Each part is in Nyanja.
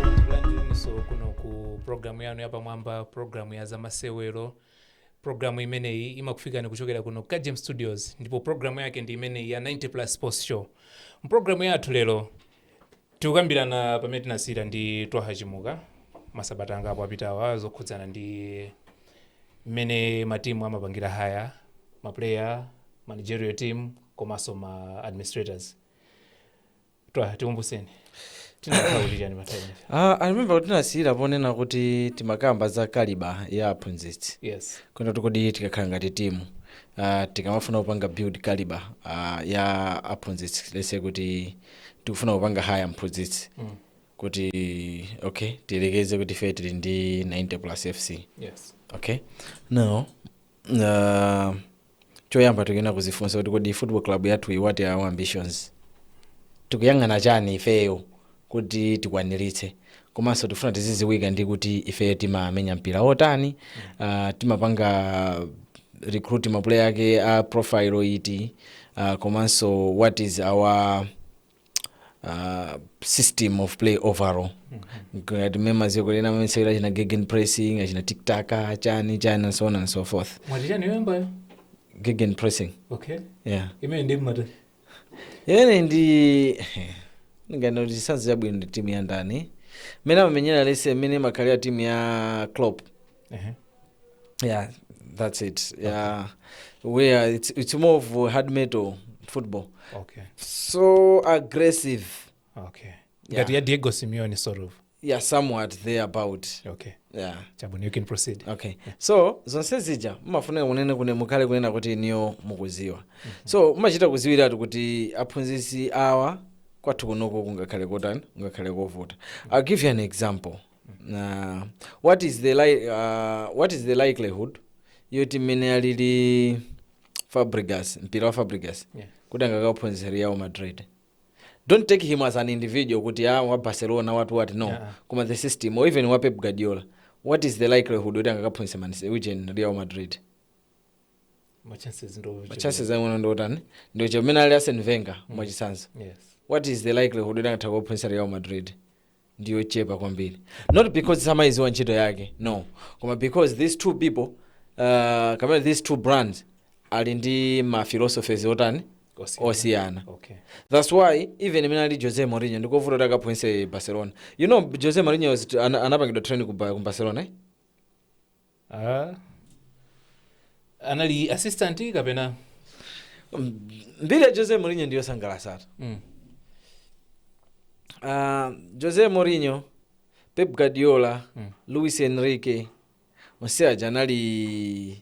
tikulandireniso kuno ku programu yanu yapamwamba programu ya zamasewero programu imeneyi imakufikani kuchokera kuno ku kagem studios ndipo programu yake ndi imeneyi ya 90 plus sports show mprogramu yathu lero Tikukambirana pamene tinasiyira ndi Twaha Chimuka masabata angapo apitawa zokhudzana ndi mmene ma team amapangira hire ma player, managerial team komanso ma administrators. Twaha tikumbuseni tinakamba kuti chani last time. Ah, I remember kuti tinasiyira ponena kuti timakamba za kaliba ya aphunzitsi. Yes. Kunena kuti kodi tikakhala ngati timu uh, tikamafuna kupanga build kaliba uh, ya aphunzitsi lese kuti tikufuna kupanga hire mphunzitsi kuti okay tiyerekeze kuti ife tili ndi 90 plus fc yes okay now uh, choyamba tikuyenera kuzifunsa kuti kodi football club yathu iyi what are our ambitions tikuyang'ana chani ifeyo kuti tikwaniritse komanso tifuna tiziziwika ndi kuti ifeyo timamenya mpira wotani uh, timapanga recruit maplayer ake a profile iti uh, komanso what is our uh, system of play overall ngati mumadziwa kunena mamasewera achina gegen pressing achina tiki taka chani chani and so on and so forth mwati chani yoyambayo gegen pressing okay yeah imene ndi mmata Imene ndinganene ndi chitsanzo chabwino ndi timu ya ndani. Mmene amamenyera lese mmene imakhalira timu ya Klopp. Ehe. Yeah, that's it. Yeah. Where it's, it's more of uh, hard metal football. Okay. So aggressive. Okay. Yeah. Ngati ya Diego Simeone sort of. yeah somewhat there about okay yeah chabwino you can proceed okay so zonse zija mumafunika kunena kuti mukhale kunena kuti inuyo mukuziwa so mumachita kuziwiratu kuti aphunzitsi awa kwathu kunoko kungakhale kotani kungakhale kovuta i'll give you an example uh, what, is the li uh, what is the likelihood yoti mmene alili fabregas mpira wa fabregas Yeah. kuti angakaphunzitse real madrid don't take him as an individual kuti a ah, wa barcelona what what no yeah. koma the system or even wa pep guardiola what is the likelihood yoti angakaphunzitse man u kapena real madrid machances ake ndi otani ndi ochepa mmene ali arsene wenger mm. mwachitsanzo yes. what is the likelihood yoti angathe kukaphunzitsa real madrid ndiyochepa kwambiri not because samaiziwa ntchito yake no koma because these two people uh, kapena these two brands ali ndi ma philosophies otani Osiyana. osiyana okay that's why even imene ali jose mourinho ndikovuta kuti akaphunzitse barcelona you know jose mourinho was- ana- anapangidwa training ku Ba- ku barcelona eh? Ah. anali assistant kapena Mm, mbiri ya jose mourinho ndiyosangalasatu mm. Ah, jose mourinho pep guardiola Mm. luis enrique onse aja anali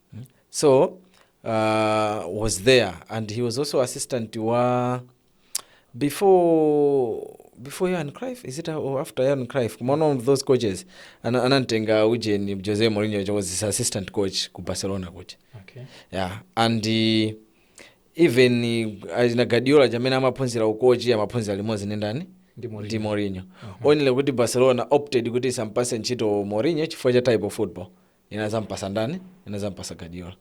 so uh, was there and he was also assistant wa before before Johan Cruyff is it uh, or after Johan Cruyff koma one of those coaches ana- anamtenga ujeni Jose Mourinho which was his assistant coach ku Barcelona coach okay. yeah and uh, even uh, achina Guardiola m'mene amaphunzira ukochi amaphunzira limodzi ndi ndani Ndi Mourinho. ndi Mourinho only kuti Barcelona opted kuti isampase ntchito Mourinho chifukwa cha type of football inadzampasa ndani inadzampasa guardiola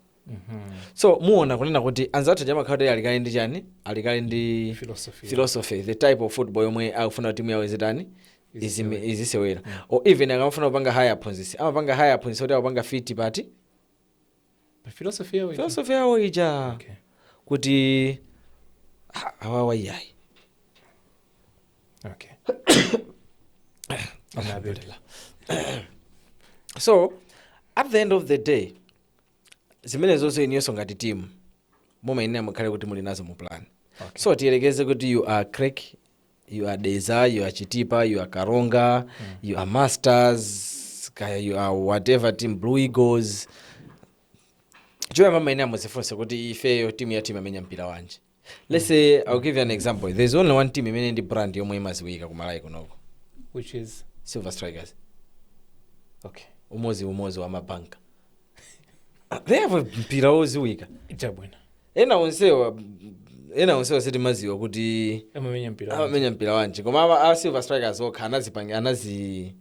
so muona kunena kuti anzathu aja amakhala kuti ali kale ndi chani ali kale ndi Philosophy. philosophy the type of football yomwe akufuna kuti timu yawo izitani izime- izisewera or even akamafuna kupanga haya aphunzisi amapanga haya aphunzisi kuti akupanga fit pati Pa philosophy yawo ija. philosophy yawo ija Okay. kuti ha, awawa iyayi okay so at the end of the day zimene zotero inuyonso ngati timu mumayenera mukhale kuti muli nazo mu plan okay. so tiyerekeze kuti you are creck you are dedza you are chitipa you are karonga mm. you are masters kaya you are whatever team blue eagles choyamba mumayenera muzifunse kuti ifeyo timu yathu imamenya mpira wanji let's say i'll give you an example there's only one team imene ndi brand yomwe imaziwika ku malawi kunoko which is silver strikers okay umozi umozi wa mabanka they have a mpira woziwika chabwino ena onsewa ena onsewa sitimaziwa kuti amamenya mpira amamenya mpira wanji koma ama- a silver strikers okha anazipanga ana a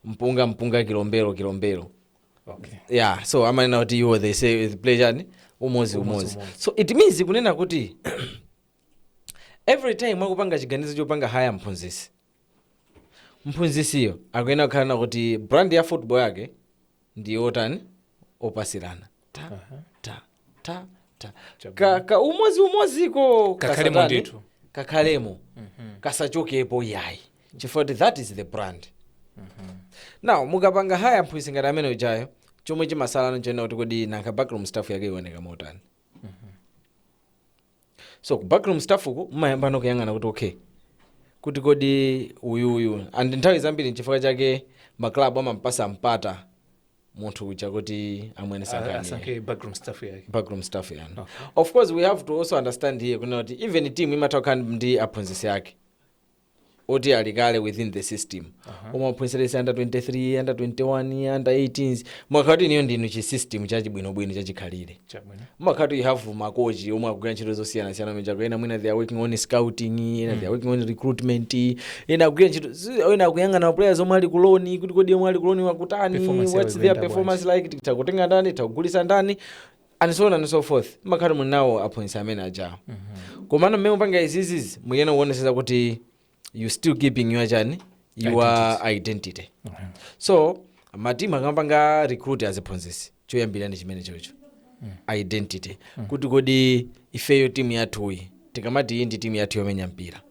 mpunga mpunga kilombero kilombero okay. yeah so amanena kuti iwo they say play chani umozi umozi so it means kunena kuti every time mwakupanga chiganizo chopanga haya mphunzisi mphunzisiyo akuyenera kukhalano kuti brand ya football yake ndi yotani opatsirana ta ta ta ta ka, ka umozi umoziko Kakhalemo kasatani? ndithu. kakhalemo kasachokepo yayi chifukwa kuti that is the brand now mukapanga haya mphunzitsi ngati amene ujayo chomwe chimasalano n'chonena kuti kodi nanga backroom staff yake ioneka motani so ku backroom staff uku mumayambano kuyang'ana kuti okay kuti kodi uyu uyu and nthawi zambiri nchifukwa chake maklabu amampasa mpata munthu uja kuti amwene Ah, sankhani asankhe backroom staff yake backroom staff yanu of course we have to also understand here kunena kuti even team imatha kukhala ndi aphunzitsi ake oti ali kale within the system omwe aphunzitsa under 23 under 21 under 18 mwakhala kuti inuyo ndinu chi system chachibwinobwino chachikhalire chabwino mumakhala kuti you have makochi omwe akugwira ntchito zosiyanasiyana mechako ena mwina they are working on scouting ena they are working on recruitment ena akugwira ntchito zi- ena akuyang'ana players omwe ali ku loan kuti kodi omwe ali ku loan akutani Performance yawo what's their ikuyenda performance like tikutha kutenga ndani tikutha kugulisa ndani and so on and so forth mmakhala kuti muli nawo aphunzitsi amene ajawo komano mmene mukupanga izizizi mukuyenera kuonesesa kuti you still keeping your chani your identity so matimu akamapanga recruit aziphunzitsi choyambira ndi chimenechocho identity kuti kodi ifeyo timu yathuyi tikamati iyi ndi timu yathu yomenya mpira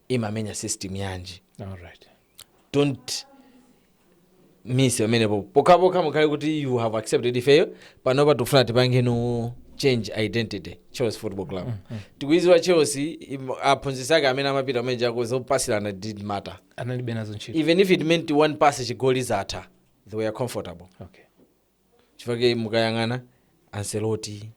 imamenya system yanji All right. don't miss pamenepo pokhapokha mukhale kuti you have accepted ifeyo panopa tikufuna tipangeno change identity chelsea football club tikuiziwa chelsea im- aphunzitsi ake amene amapita kumene kujako zopasirana didn't matter analibe nazo ntchito even if it meant one pass chigoli zatha they were comfortable okay chifukwa chake mukayang'ana ancelotti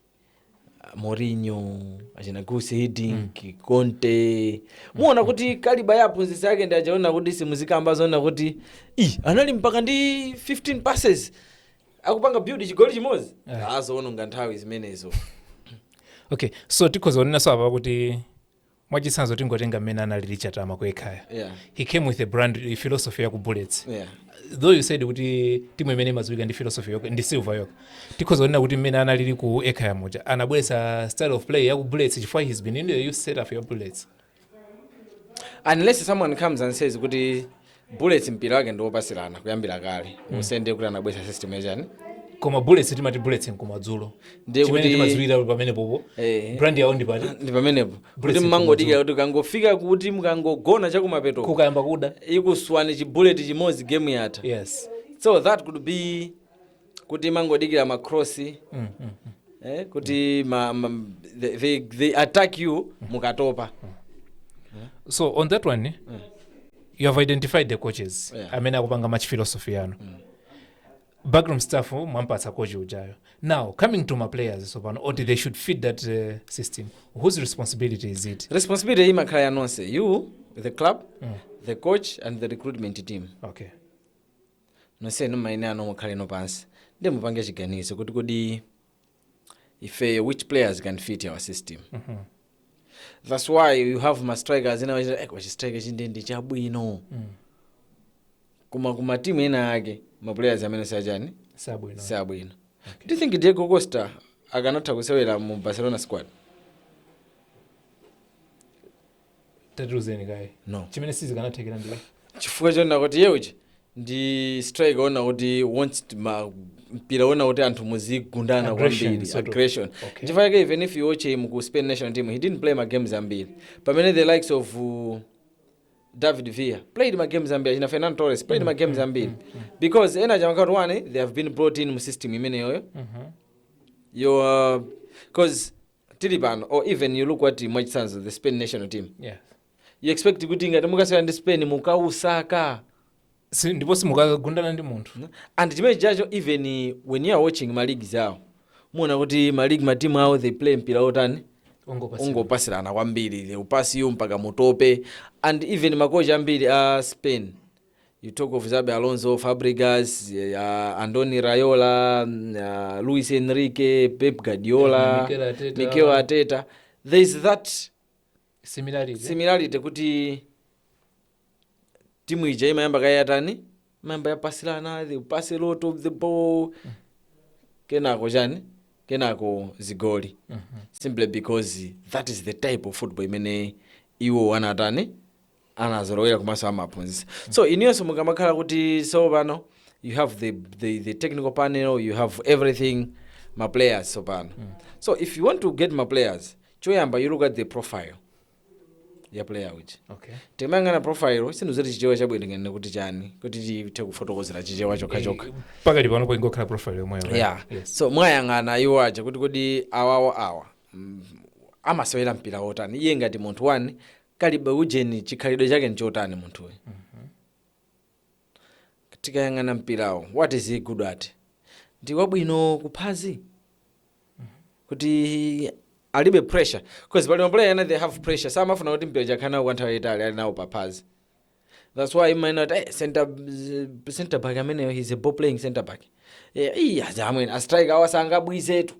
ah, Mourinho achina Guus Hiddink Conte muona kuti caliber ya aphunzitsi ake ndi aja onena kuti simuzikamba zonena kuti i anali mpaka ndi 15 passes akupanga build chigoli chimodzi ah zoononga nthawi zimenezo okay so tikhoza kunena so apa kuti mwachitsanzo tingotenga mmene analili chatama ku ekhaya yeah. he came with a brand a philosophy yaku bullets yeah. though you said kuti timu imene imadziwika ndi philosophy yokha ndi silver yokha tikhoza kunena kuti mmene analili ku ekhaya muja anabweretsa style of play yaku bullets chifukwa he's been in the youth setup ya bullets unless someone comes and says kuti bullets mpira wake ndi wopasilana kuyambira kale mm. so nde kuti anabweretsa system yachani koma bullets timati bullets nkumadzulo Ndiye chimene kuti- timadziwira pamenepopo Eh. brand yawo ndi pati ndi pamenepo kuti Bullets mmangodikira kuti kangofika kuti mukangogona chakumapeto kukayamba kuda ikuswani chibuleti chimodzi game yatha yes so that could be kuti imangodikira ma cross eh, kuti ma, ma, they, they, they attack you mukatopa so on that one you have identified the coaches Yeah. amene akupanga match philosophy yanu backroom staff mwampatsa coach ujayo now coming to ma players sopano oti they should fit that uh, system whose responsibility is it responsibility imakhala ya nonse you the club the coach and the recruitment team okay nonsenu mmayenerano mukhaleno pansi nde mupange chiganizo kuti kodi ifeyo which players can fit our system thats why you have ma strikers ena wachita eh, wachi striker chindindi chabwino koma ku matimu ena ake ma players amene sachani sabwino sabwino do you think diego costa akanatha kusewera mu barcelona squad tatiuzeni kaye No. chimene sizikanathekera ndi chifukwa chonena kuti iye uja ndi striker wonena kuti wants to ma mpira onena kuti anthu muzigundana Aggression, kwambiri sort of. aggression Okay. nchifukwa yake even if you watch him ku spain national team he didn't play ma games ambiri pamene the likes of uh, david villa played ma games ambiri achina fernando torres played ma games ambiri because ena achina amakati one they have been brought in mu system imeneyoyo yo because tili pano or even you look at mwachitsanzo the spain national team yes. you expect kuti ngati mukasewera ndi spain mukausaka si, ndipo simukagundana ndi munthu and chimenecho cho even eh, when you are watching ma leagues awo muwona kuti ma league ma team awo they play mpira wotani ungopasa ungopasirana kwambiri they will pass you mpaka mutope and even makochi ambiri a spain you talk of Xabi Alonso, Fabregas, uh, Andoni Raiola, mm, uh, Luis Enrique, Pep Guardiola, Mikel Arteta. Mikel Arteta. There is that similarity, similarity kuti timu ija imayamba kaye yatani imayamba yapasilana the pass a lot of the ball kenako chani kenako zigoli simply because that is the type of football imene iwo anatani anazolowera komanso amaphunzitsa so inuyonso mukamakhala kuti so pano you have the, the, the technical panel you have everything ma players tsopano so if you want to get ma players choyamba you look at the profile ya player uja okay timayang'ana profile sindidziwa kuti chichewa chabwino ndinganene kuti chani kuti tithe kufotokozera chichewa chokha chokha pakati panopo ingokhala profile yomweyo right? yeah yes. so mwayang'ana iwo aja kuti kodi awawo awa mm, amasewera mpira wotani iye ngati munthu wani kalibe ujeni chikhalidwe chake nchotani munthuyu tikayang'ana mpirawo what is he good at ndi wabwino kuphazi kuti alibe pressure because pali maplayer ena they have pressure samafuna kuti mpira akhale nawo kwa nthawi yayitali ali nawo paphazi that's why timanena kuti eh, center, center back ameneyu he's a ball playing center back Eh, iya zamwene ma striker awa sangabwizetu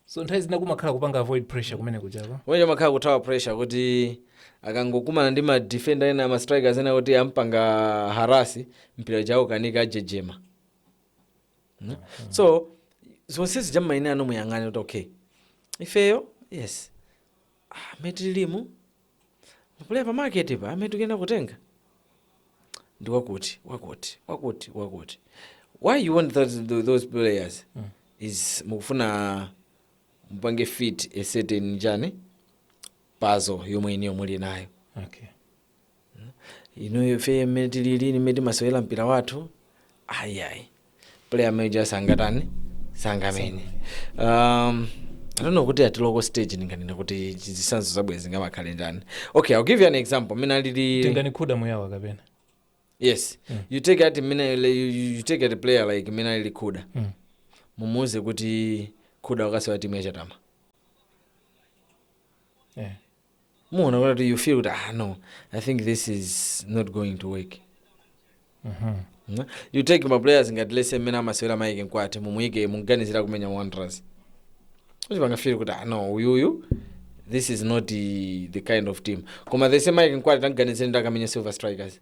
so nthawi zina kumakhala kupanga avoid pressure kumene kujako komwe kumakhala kuthawa pressure kuti akangokumana ndi ma defender ena ma strikers ena kuti ampanga harasi mpira uja ukanika anjenjemera mm. so zonse zija mumayenera muyang'ane kuti okay ifeyo yes ah, mmene tilimu Mapulaya pa market pa amene tikuyenera kutenga ndi wakuti wakuti wakuti wakuti. Why you want those, tho- those players? Is mukufuna mupange fit a certain chani puzzle yomwe inuyo muli nayo. Okay. Inuyo ife mmene tilili mmene timasewera mpira wathu ayi ayi. player mmene uja sangatani sangamene um, I don't know kuti at local stage ndinganene kuti zitsanzo zabwino zingamakhale ndani okay i'll give you an example mmene alili tingati khuda muyaba kapena yes you take at mmene you, you- you take at a player like mmene alili khuda Mm. mumuuze kuti khuda ukasewera timu ya chatama yeah. muona kuti you feel kuti ah no i think this is not going to work Mhm. you take ma players ngati lets say mmene amasewera maike mkwati mumuyike mukuganizira kumenya wanderers kuti pangafiri kuti ah no uyuyu this is not the, the kind of team koma the same maike mkwati tamuganizire akamenya silver strikers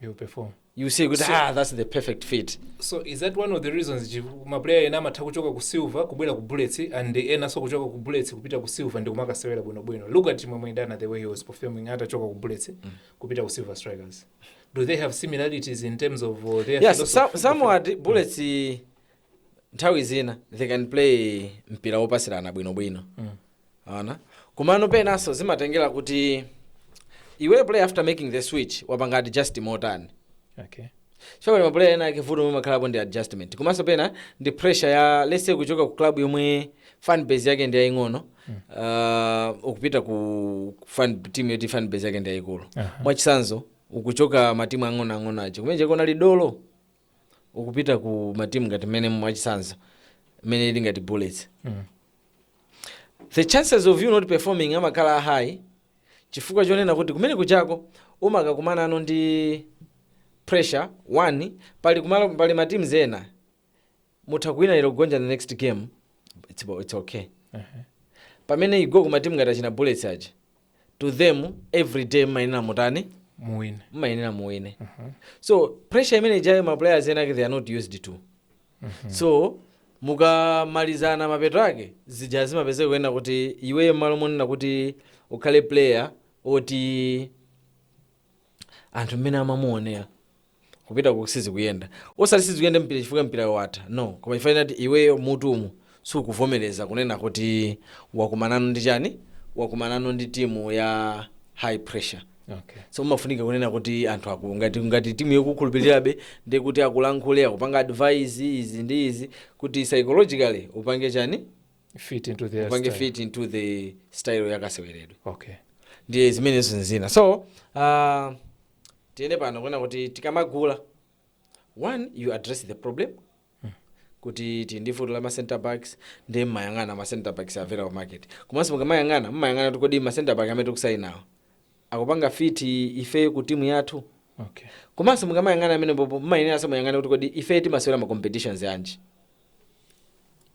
You perform. you see kuti ah that's the perfect fit so is that one of the reasons chi- ma player ena amatha kuchoka ku silver kubwera ku bullets and enanso kuchoka ku bullets kupita ku silver ndikumakasewera bwinobwino look at chimwemwe idana the way he was performing atachoka ku bullets kupita ku silver strikers do they have similarities in terms of uh, their yes philosophy? some, somewhat bullets nthawi zina they can play mpira wopasirana bwinobwino and komano penanso zimatengera kuti iwe player after making the switch wapanga adjust motani okay chifukwa mapuleya enaake vuto lomwe limakhalapo ndi adjustment komanso pena ndi pressure ya lets say kuchoka ku club yomwe fan base yake ndi yaying'ono uh, ukupita ku ku fan team yoti fan base yake ndi yayikulu Aha. mwachitsanzo ukuchoka matimu ang'onoang'ono aja kumene ujako unali dolo ukupita ku matimu ngati mmene mwachitsanzo mmene ili ngati bullets the chances of you not performing amakhala high chifukwa chonena kuti kumene kujako umakakumanano ndi pressure one pali, kumalo, pali matimu ena mutha kuwina lero kugonja the next game it's, it's okay pamene you go kumatimu ngati achina bullets aja to them every day mmayenera mutani muwine mmayenera muwine so pressure imene ijayo ma players enaake they are not used to so mukamalizana mapeto ake zija zimapezeka kunena kuti iweyo mmalo monena kuti ukhale player oti anthu mmene amamuonera kupita ku sizikuyenda osati sizikuyenda mpira chifukwa mpirayo watha no koma chifukwa choti iweyo mutumo sukuvomereza kunena kuti wakumanano ndi chani wakumanano ndi timu ya high pressure okay. so umafunika kunena kuti anthu aku ngati, ngati timu ikukukhulupirirabe ndiye kuti akulankhule akupanga advise izi ndi izi kuti psychologically upange chani fit into their upange style. fit into the style yakaseweredwe okay ndiye zimenezo ndi zina so uh, tiyene pano kunena kuti tikamagula one you address the problem kuti tili ndi vuto la ma center backs ndiye mmayang'ana ma center backs available market komanso mukamayang'ana mmayang'ana kuti kodi ma center back amene tikusainawa akupanga fit ifeyo ku timu yathu okay komanso mukamayang'ana pamenepopo mmayeneranso muyang'ane kuti kodi ifeyo timasewera ma competitions anji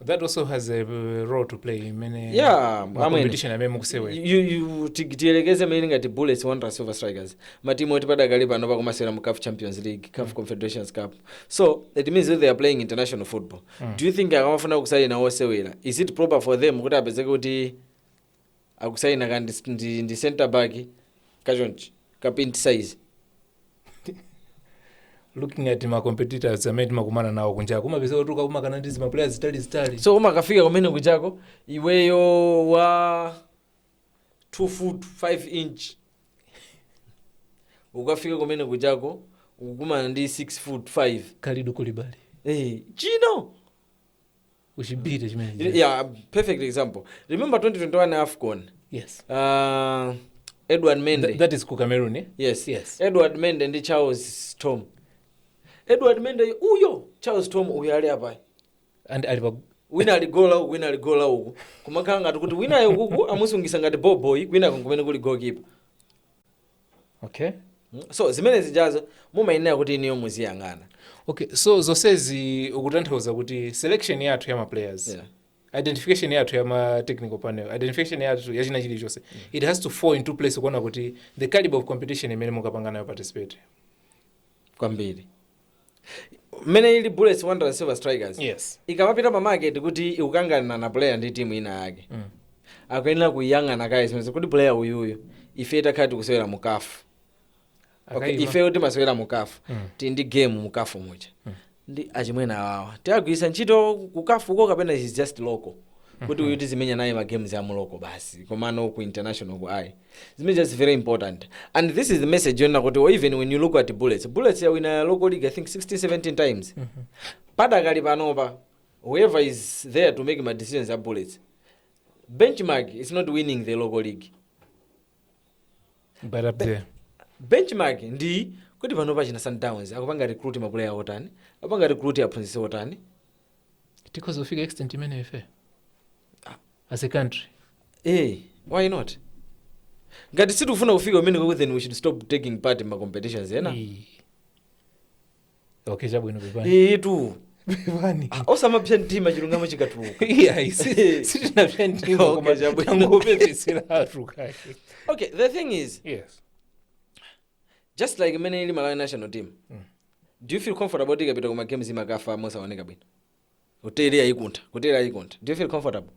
that also has a uh, role to play imene Yeah, ma amene. competition amene mukusewera You- you- ti- tiyerekeze mmene ili ngati bullets wanderers silver strikers matimu oti padakali pano akumasewera mu caf champions league caf confederations cup so it means that they are playing international football do you think akamafuna kusaina wosewera is it proper for them kuti apezeke kuti akusaina ka ndi, ndi, ndi center back kachonchi ka pint size looking at ma competitors amene timakumana nawo kunja kumapeza kuti ukakumakana ndi zima players zitali zitali so umakafika kumene kuchako iweyo wa 5 foot 5 inch ukafika kumene kuchako ukukumana ndi 6 foot 5 Kalidou Koulibaly hey, chino uchibire chimene yeah perfect example remember 2021 afcon yes uh, edouard mendy Th- that is ku cameroon eh? yes yes edouard mendy ndi charles thom edouard mendy uyo charles thom uyo ali apa and ali apa wina ali gola uku wina ali gola uku kumakhala ngati kuti winayo ukuku amusungisa ngati boboyi kwinako kumene kuli goalkeeper okay so zimene zijazo mumayenera kuti inuyo muziyang'ana okay so zonsezi ukutanthauza kuti selection yathu ya maplayers yeah identification yathu ya ma technical panel identification yathu ya china chilichonse mm. it has to fall into place kuona kuti the caliber of competition imene mukapanga nayo participate kwambiri mmene ili bullets wanderers silver strikers Yes. ikamapita pa market kuti ikukang'ana na player ndi timu ina yake mm. akuyenera kuyang'ana kaye zimenezo kuti player uyuyu ife takhala tikusewera mu CAF okay, Akaima. ifeyo timasewera mu CAF mm. tili ndi game mu CAF muja mm. ndi achimwena awawa tiagwirisa ntchito ku CAF uko kapena is just local kuti uyu tizimenya naye ma games a mu local basi komano ku internationalku ayi Zimene that's very important. And this is the message yonena kuti or even when you look at Bullets. Bullets yawina local league I think 16 17 times. Padakali panopa whoever is there to make ma decisions a Bullets. Benchmark is not winning the local league. But up there. benchmark ndi kuti panopa achina sundowns akupanga recruit mapuleya otani akupanga recruit aphunzitsi otani Tikhoza kufika extent imeneyo ife. as a country Eh, why not? Ngati sitikufuna kufika kumeneko then we should stop taking part in ma competitions ena. Eh. okay chabwino pepani Eetu. pepani Ah, Osamapsa mtima chilungamo chikatuluka. iyayi si- sitinapsa mtima Okay, koma chabwino. tangopepesera anthu kaye Okay, the thing is yes just like mmene ili Malawi national team. Do you feel comfortable tikapita kuma games mumakafa mosaoneka bwino? hoteli yayikuntha hoteli yayikuntha do you feel comfortable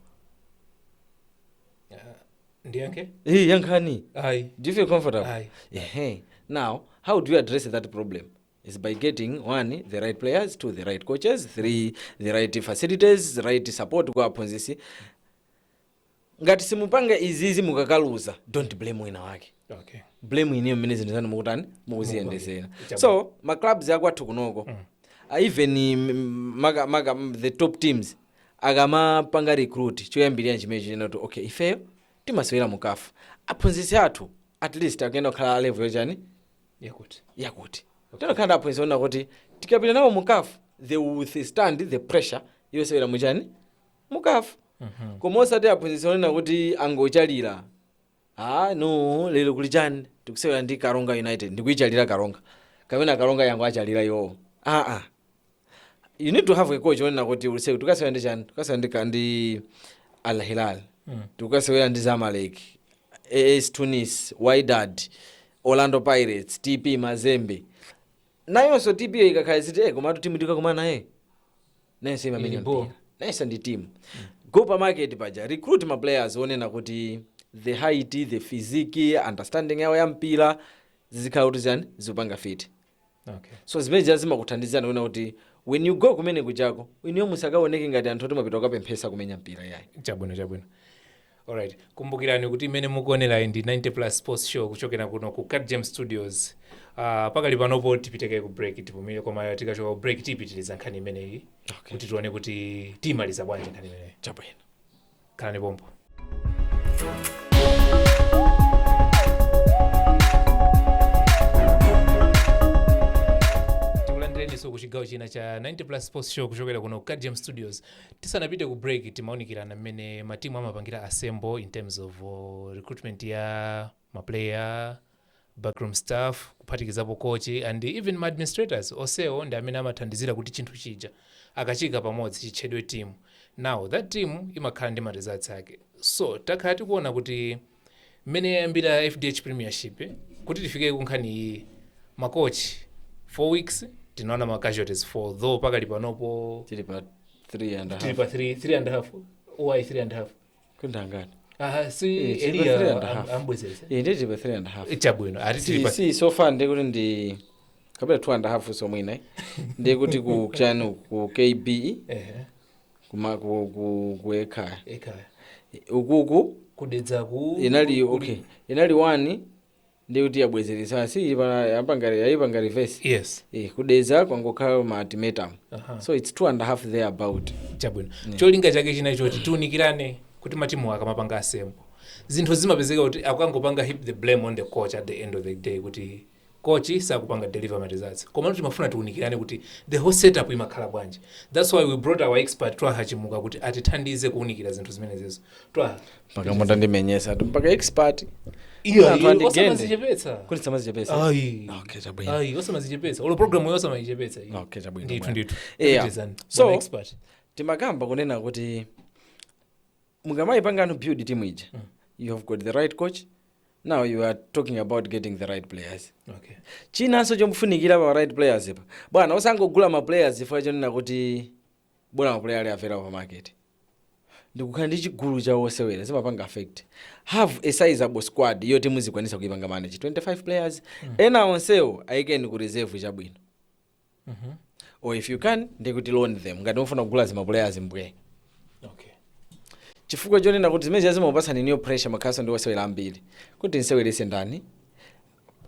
ndiyankhe hey, yankhani ayi do you feel comfortable Aye. Ehe. now how do you address that problem is by getting one the right players two the right coaches three the right facilities the right support kwa aphunzisi ngati simupanga izizi mukakaluza don't blame wina wake okay blame inuyo mmene zinthu zanu mukutani mukuziyendezera Chabwino. so ma clubs akwathu kunoko uh, even mm, maka, maka mm, the top teams akamapanga recruit choyambirira chimene nchonena kuti okay ifeyo timasewera mu CAF aphunzitsi athu at least akuyenera kukhala a level yochani yakuti yakuti tizikhala ndi aphunzitsi onena kuti tikapita nawo mu CAF they will withstand the pressure yosewera muchani mukafuna koma osati aphunzitsi onena kuti angochalira ah no lero kuli chani tikusewera ndi karonga united ndikuichalira karonga kapena karonga yangowachalira iwowo ah ah you need to have a coach onena kuti ulendo uwu tikasewera ndi chani tikasewera ndi ka- ndi al hilal tikasewera ndi zamalek as tunis wydad orlando pirates tp mazembe nayonso timu iyo ikakhala ikuti eh, komatu timu tikakumana naye nayonso imamenya mpira nayonso ndi timu go pa market paja recruit ma players onena kuti the height the physique understanding yawo ya mpira zizikhala kuti zichani zikupanga fiti okay so zimene zija zimakuthandizani kuona kuti when you go kumene kujako inuyo musakaoneke ngati anthu oti mwapita kukapemphesa kumenya mpira yayi chabwino chabwino Alright, kumbukirani kuti imene mukuonerayi ndi 90 plus sports show kuchokera kuno ku Gadgem Studios. Uh, pakali panopo tipite kaye ku break tipumire koma tikachoka ku break tipitiriza nkhani imeneyi kuti tione kuti timaliza bwanji nkhani imeneyi. Chabwino. Khalani pompo. tikulandireniso ku chigawo china cha 90 plus sports show kuchokera kuno ku Gadgem studios Tisanapite ku break timaunikirana mmene ma team amapangira assemble in terms of recruitment ya ma player, backroom staff kuphatikizapo coach and even ma administrators onsewo ndi amene amathandizira kuti chinthu chija akachiika pamodzi chitchedwe team now that team imakhala ndi ma results ake so takhala tikuona kuti Mmene yayambira fdh premiership kuti tifike kunkhani iyiyi ma coach 4 weeks tinaona ma casualties 4 though pakali panopo tili pa 3 and a half tili pa 3 3 and a half ayi 3 and a half kundangani aha si Eh, tili pa three eliya and a half. am- amubwezeretsa Eh, ndi tili pa 3 and a half chabwino ati tili si, pa si so far ndikuti ndi kapena 2 and a half somwina ndikuti ku chanu ku kbe Ehe. kuma ku, ku, ku ekhaya ekhaya ukuku ku dedzaku inali okay inali one ndikuti yabwezeretsa si ili pana yapanga yayipanga reverse yes eh ku dedza kwangokhala ma ultimatum Aha. so it's two and a half there about chabwino cholinga chake china choti tiunikirane kuti matimu akamapanga assemble zinthu zimapezeka kuti akangopanga heap the blame on the coach at the end of the day kuti coach sakupanga deliver ma results komano timafuna tiunikirane kuti the whole setup imakhala bwanji that's why we brought our expert twaha chimuka kuti atithandize kuunikira zinthu zimenezizo twaha mpaka mutandimenyetsatu mpaka expert iyo Anthu andigende. osamazichepetsa kuti osamazichepetsa ayi okay chabwino ayi osamazichepetsa olo program yo osamayichepetsa iyi. okay chabwino ndithu bwana. ndithu Yeah. Pitirizani, So- bwana expert timakamba kunena kuti mukamaipangano build team ija you have got the right coach now you are talking about getting the right players okay chinanso chofunikira pa right players pa bwana osangogula ma players chifukwa chonena kuti bwana ma player ali available pa market ndikukhala ndi chigulu cha osewera zimapanga affect have a sizable squad yoti muzikwanisa kuipanga manage 25 players ena onsewo ayikeni ku reserve chabwino mm -hmm. or if you can ndikuti loan them ngati mufuna kugula zimapuleya zambiri okay. chifukwa chonena kuti zimene zimakupatsani inuyo pressure mukhalanso ndi osewera ambiri kuti nseweretse ndani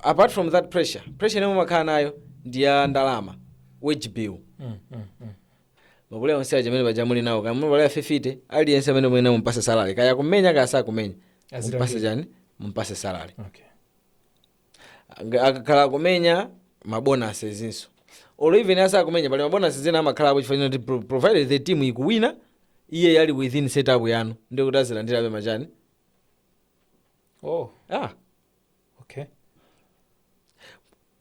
apart from that pressure pressure imene mumakhala nayo ndi ya ndalama wage bill mm, mm, mm. mapulaya onse aja amene paja muli nawo kaya mapulaya fifite aliyense ameneyo muyenera mumpase salary kaya kumenya kaya sakumenya mumpase chani mumpase salary okay. Nga- akakhala akumenya mabonasi zinso or even asakumenya pali mabonasi ena amakhalapo chifukwa choti pro- provided the team ikuwina iye yali within setup yanu ndiye kuti azilandirabe machani oh ah okay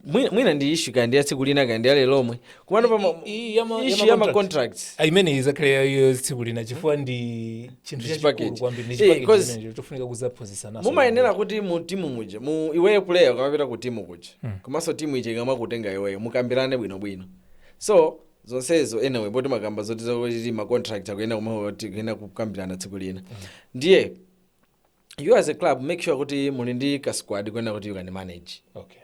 mwina, mwina ndi issue kaya ndi ya tsiku lina kaya ndi ya lero lomwe komano pa ma- I- i- ya ma- ya issue ma ya ma contract. contracts Ah, imene izakhale iyo tsiku lina chifukwa ndi chinthu Ndi chachikulu chipackage. kwambiri ndi Eh, chipackage 'cause chimenecho chofunika kuzaphunzitsananso mumayenera kuti mu timu muje mu iweyo player ukamapita ku timu kuja komanso timu ije ikamakutenga iweyo mukambirane bwinobwino so zonsezo anyway poti makamba zoti zakuti ma contract akuyenda kumati kuyenda kukambirana tsiku lina ndiye you as a club make sure kuti muli ndi ka squad kuyenda kuti you can manage okay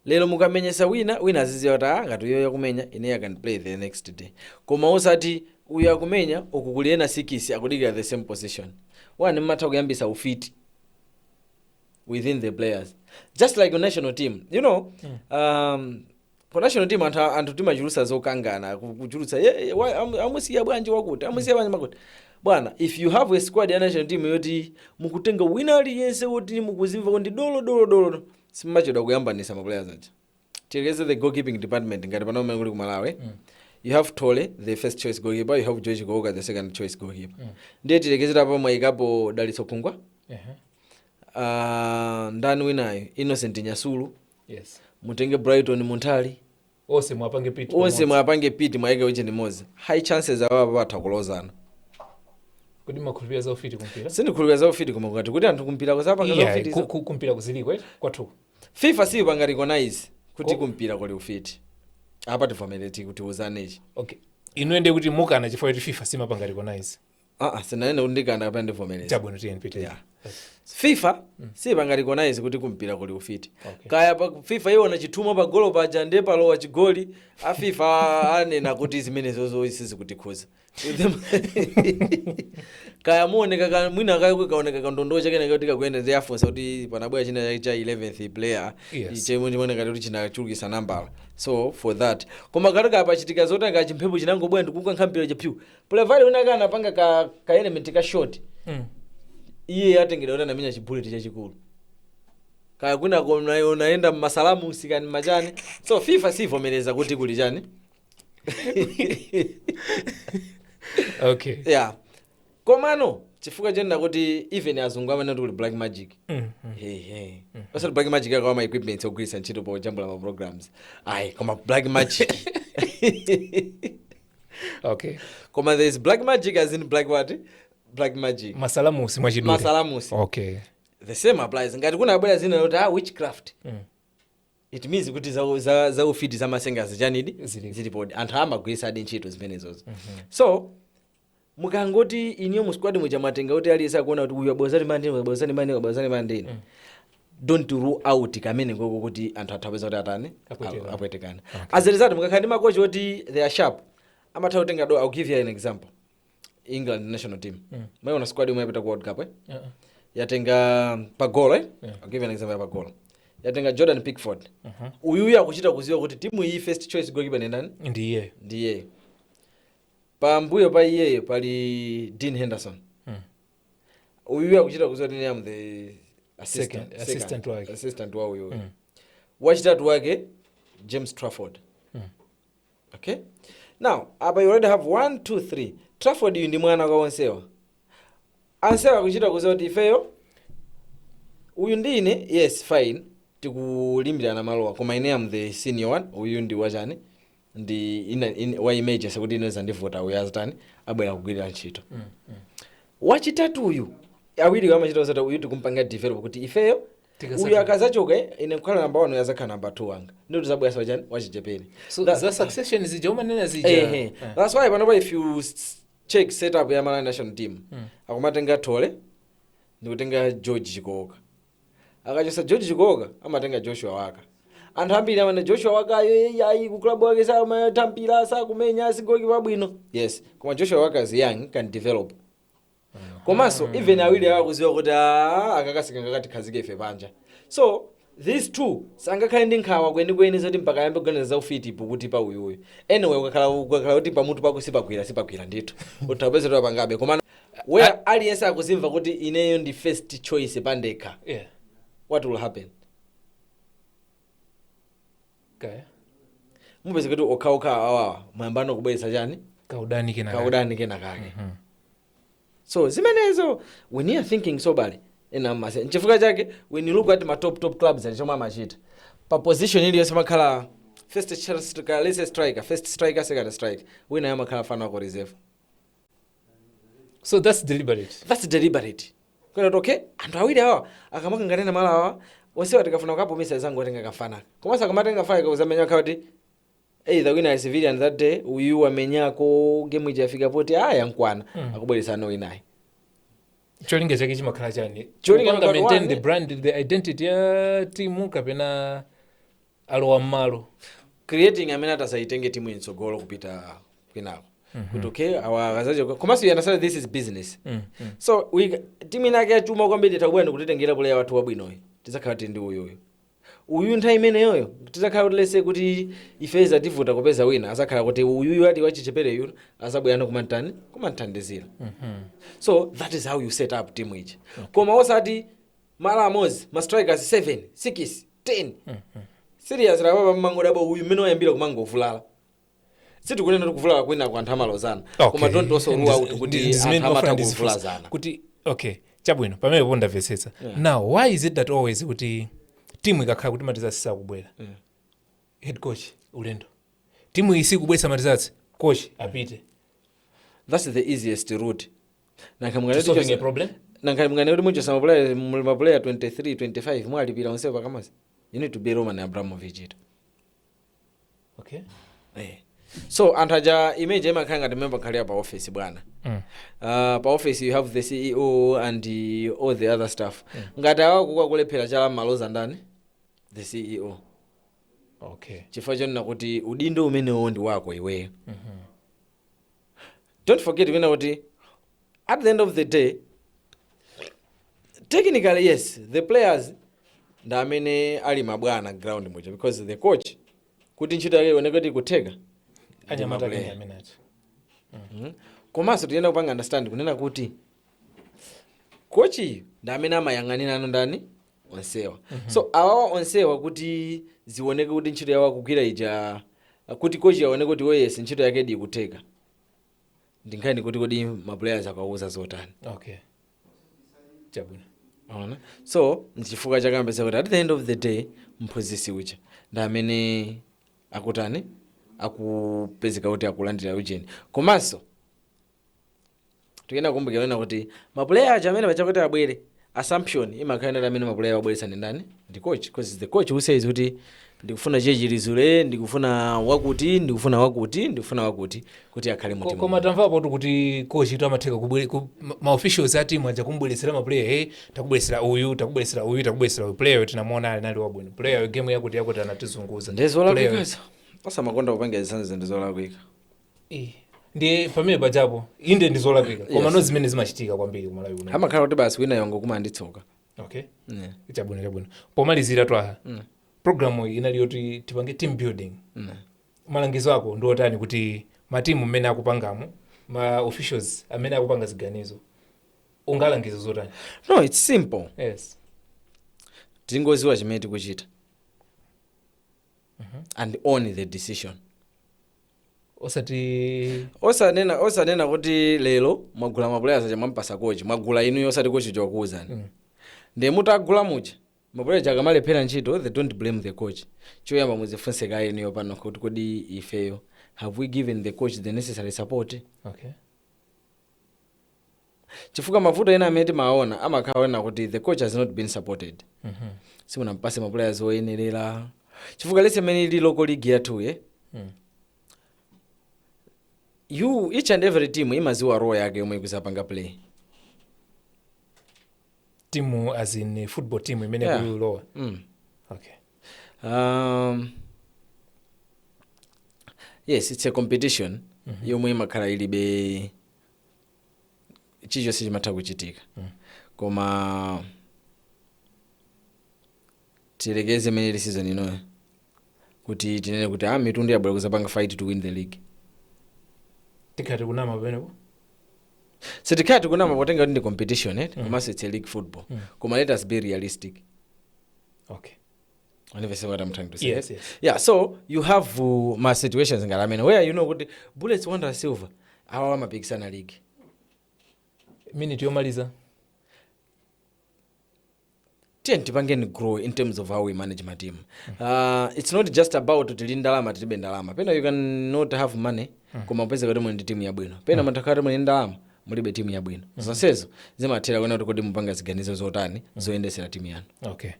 lero mukamenyesa wina, wina aziziwa kuti aah ngati uyoyo akumenya ineyo i can play the next day koma osati uyu akumenya uku kuli ena sikisi akudikira the same position. One mmatha kuyambisa ufiti within the players just like ku national team you know um, ku national team anthu, anthu timachulutsa zokangana ku- kuchulutsa "Ye- ye, wa- amu- amusiya bwanji wakuti amusiya bwanji wakuti bwana if you have a squad ya national team yoti mukutenga wina aliyense woti akuzimva kuti ndi dolo dolo dolo simumachedwa kuyambanisa ma players aja tilekeze the goalkeeping department ngati pano mmene kulili ku malawi you have thole the first choice goalkeeper you have george chikooka the second choice goalkeeper ndiye tiyerekezere apa mwayikapo dalitso khungwa Ehe. ah, ndani winayo innocent nyasulu Yes. mutenge brighton munthali onse mwapange pit onse pamodzi. mwapange pit mwaike wije limodzi high chances awa apa atha kulozana kodi mumakhulupirira za ufiti kumpira sindikhulupirira za ufiti koma kungoti kuti anthu kumpira amapanga za Yeah, ufiti ku- ku- kumpira kuziliko eh, kwathu kuno fifa siyipanga recognize kuti Ko- kumpira kuli ufiti apa timvane tiuzane ichi okay inuye ndiye kuti mukana chifukwa kuti fifa simapanga recognize Ah, ah, sinanene kuti ndikana kapena ndivomereza chabwino tiyeni tipite Yeah. fifa siipanga recognize kuti kumpira kuli ufiti Okay. kaya pa fifa iwone chithumwa pa golo paja ndiye palowa chigoli a fifa anena kuti zimenezozo sizikutikhudza kaya muoneka ka- mwina kaya kaoneka kandondowo kaoneka kuti kakuyenda ndi afunsa kuti panabwera china chake cha 11th player Yes. chimene chimaoneka kuti chinachulukisa nambala so for that koma ngati kapachitika zoti kaya chimphepo chinangobwera ndikukankha mpira chapyu player wina aka anapanga ka, ka element ka short Mm. iye atengedwa kuti anamenya chibuleti chachikulu kaya kwinako una- unayenda mmasalamu zichani zichani so fifa siivomereza kuti kuli chani okay yeah komano chifukwa chonena kuti even azungu amene kuli black magic Mm, mm. Hey, hey. osati black magic awa ma equipments ogwiritsa ntchito pojambula ma programs ayi koma black magic okay koma there is black magic as in black what black magic masalamusi mwachidule masalamusi okay the same applies ngati kunabwera dzina loti ah, witchcraft mm. it means kuti za, za, za ufiti za masenga zichanidi Zilipo. zilipodi anthu amagwiritsadi ntchito zimenezozo mm-hmm. so mukangoti inuyo mu squad muja mwatenga kuti aliyense akuona kuti uyu abwezani mandini uyu abwezani mandini uyu abwezani mandini don't rule out kameneko kuti anthu atha kupeza kuti atani Apwetekana. apwetekana as a result mukakhala ndi makochi oti they are sharp amatha kutenga though i'll give you an example england national team mwayiona squad yomwe yapita ku world cup eh? Uh-uh. yatenga pagolo eh? I'll give you an example ya pagolo yatenga jordan pickford uyuyu akuchita kuziwa kuti timu iyi first choice goalkeeper ndi ndani ndi ine ndi ine pambuyo pa iyeyo pali dean henderson uyuyo akuchita kuziwa kuti am the assistant, Second- second, assistant wake. assistant wa uyuyo wachitatu wake james trafford okay now apa you already have one two three trafford yu ndi mwana kwa onsewa awiriwa akuchita kuziwa kuti ifeyo uyu ndi ine yes fine tikulimbirana malowa koma ine am the senior one uyu ndi wachani ndi ina- in- wa emergency kuti ine zandivuta uyu azitani abwere kugwira ntchito wachitatuyu awiriwo amaziwa zoti uyu tikumpanga develop kuti ifeyo Tikasaka- uyu akazachoka ine nkukhala namba 1 azakhala namba 2 wanga ndiye tizabwera wachani wachichepere so That- za succession zija umanena zija Ehe. Eh. That's why panopa if you s- check setup ya Malawi national team akumatenga Thole ndikutenga George Chikooka akachotsa george chikooka amatenga joshua waka anthu ambiri amene joshua wakayo "Eyi, ayi ku club wake samatha mpira sakumenya sigoki pabwino yes koma joshua waka is young can develop komanso even awiri awo akudziwa kuti "Ah, akakasika ngakatikhazike ife panja so these two sangakhale ndi nkhawa kwenikweni zoti mpaka ayambe kuganiza za ufiti popeza kuti pa uyuyu anyway ukakhala ukakhala kuti pamutu pako sipagwira sipagwira ndithu upeza kuti wapangabe koma where I- aliyense akudzimva kuti ineyo ndi first choice pandekha yeah what will happen okay mupeza kuti okhaokha awawa ayambano kubweretsa chani kaudani kena kaudani kena kake so zimenezo when you are thinking soberly ena amase nchifukwa chake when you look at ma top top clubs ndi chomwe amachita pa position iliyonse amakhala first ch- striker let's say striker first striker second striker wina amakhala mfana wa ku reserve so that's deliberate that's deliberate kunena kuti okay anthu awiri awa akamakangana malo awa onsewa tikafuna kukapumisa tizangotenga kamfana komanso akamatenga kamfana kakuzamenya kuti either wina ali wavulala that day uyu wamenyako game ija afika poti yamukwana akubweresa no inayi cholinga chake chimakhala chani Cholinga Kupanga chake maintain one- the brand the identity ya timu kapena alowa m'malo creating amene atazayitenge timu mtsogolo kupita kwinako kuti okay awa akazachoka komanso you understand this is business so we- timu inake yachuma kwambiri ikubwera kutitengera puleya wathu wabwinoyu tizakhala tili ndi uyuyu uyu nthawi imeneyoyo tizakhala kuti let's say kuti ife izativuta kupeza wina azakhala kuti uyuyu ati wachichepereyu azabwerano kumantani kumanthandizira so that is how you set up team ija koma osati malo amodzi ma strikers 7 6 10 serious lapapa mumangodabwa uyu mmene wayambira kumangovulala sitikunena kuti kuvulala kwina kwa anthu amalozana koma don't also rule out kuti anthu amatha kuvulazana kuti okay chabwino pamenepo ndamvetsetsa now why is it that always kuti timu ikakhala kuti ma results sakubwera head coach ulendo timu iyi sikubwera ma results coach apite that's the easiest route nanga munganene kuti solving a chose- problem nanga munganene kuti muchotsa mapuleya muli mapuleya 23 25 mwalipira onsewo pakamodzi you need to be roman abramovich to okay Eh. so anthu aja image imakhala ngati mmene imakhalira pa office bwana mm. uh, pa office you have the ceo and uh, all the other staff mm. ngati awa akulephera chala mumaloza ndani the ceo okay chifukwa chonena kuti udindo umenewo ndi wako iweyo mm-hmm. don't forget kunena kuti at the end of the day technically yes the players ndi amene ali mabwana ground muja because the coach kuti ntchito yake ioneke kuti ikutheka anyamata ndi kunena maplayer. amenye komanso tiyenera kupanga understand kunena kuti kochiyu ndi amene amayang'anirano ndani onsewa so awawa onsewa kuti zioneke kuti ntchito yawo akugwira ija kuti kochi aoneke kuti oh yes ntchito yake ikutheka ndinkhani kuti kodi maplayers akawauza zotani okay chabwino Ona. so nchifukwa chake umapezeka kuti at the end of the day mphunzisi uja ndi amene akutani akupezeka kuti akulandira ujeni komanso tikuyenera kukumbukira Lena kuti mapuleya aja amene paja kuti abwere assumption imakhala yoti amene mapuleya wabweretsa ndi ndani ndi coach because it's the coach who says kuti ndikufuna chechilizule ndikufuna wakuti ndikufuna wakuti ndikufuna wakuti kuti akhale mu Ko- timu koma tamvapo tu kuti kochi tu amatheka kubwere- ku- ma- ma officials a timu aja kumbweresera ma player hey takubweresera uyu takubweresera uyu takubweresera uyu player uyu tinamuona ali nali wabwino player uyu game yakuti yakuti anatizunguza Player uyu- ndezolakwikazo osamakonda kupanga zinthu zinthu zolakwika Eh, ndiye pamene pajapo inde ndi zolakwika koma Yes. no zimene zimachitika kwambiri kumalawi kuno amakhala kuti basi wina yongo kumanditsoka okay Yeah. chabwino chabwino pomalizira twaha programu iyi inali yoti tipange team building malangizo ako ndi otani kuti matimu mmene akupangamo ma officials amene akupanga ziganizo ungalangize zotani no its simple yes tingoziwa chimene tikuchita and own the decision osati osanena osanena kuti lero mwagula mapulaya aja mwampasa kochi mwagula inuyo osati kochi wakuwuzani mm. ndiye mutagula muja mapulaya aja akamalephera ntchito then don't blame the coach choyamba muzifunse kaye inuyo panokha kuti kodi ifeyo have we given the coach the necessary support okay chifukwa mavuto ena amene timawaona amakhala onena kuti the coach has not been supported simunampase maplayers oyenerera chifukwa let's say imene ili local league yathuye yeah each and every team imaziwa role yake yomwe ikuzapanga play timu as in eh, football team imene Yeah. yeah. kulowa mm. okay um, yes it's a competition yomwe imakhala ilibe chilichonse chimatha kuchitika koma tiyerekeze imene ili season inoyo kuti tinene kuti ah mitundu yabwera kuzapanga fight to win the league tikhala tikunama pamenepo sitikhala tikunama potenga kuti ndi competition eh? komanso it's a league football koma let us be realistic okay You know what I'm trying to say. Yes, yes. Yeah, so you have uh, ma situations ngati amenewa you know kuti Bullets Wanderers Silver awa amapikisana league. minute yomaliza Tiyeni tipangeni grow in terms of how we manage my team. Uh, it's not just about kuti tili ndalama tilibe ndalama. Pena you can not have money koma mupeze kuti muli ndi timu yabwino. Pena mutha kuti muli ndi ndalama mulibe timu yabwino. Zonsezo zimatengera kuona kuti kodi mupanga ziganizo zotani zoyendesera timu yanu. okay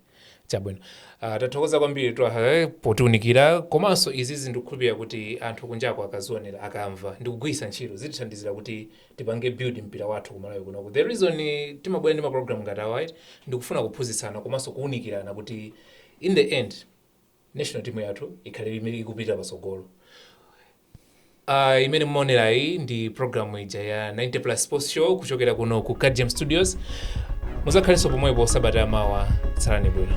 Chabwino. Uh, tathokoza kwambiri Twaha eh, potiunikira komanso izizi ndikukhulupirira kuti anthu kunjako akazionera akamva ndikugwiritsa ntchito zitithandizire kuti tipange build mpira wathu ku Malawi kunoko the reason timabwera ndi maprogram ngati awa ndikufuna kuphunzitsana komanso kuunikirana kuti in the end National team yathu ikhale ikupita patsogolo. Uh, imene mumaonera iyi ndi programu ija ya 90 plus sports show kuchokera kuno ku Gadgem Studios. Mudzakhalenso pomwepo sabata ya mawa. Tsalani bwino.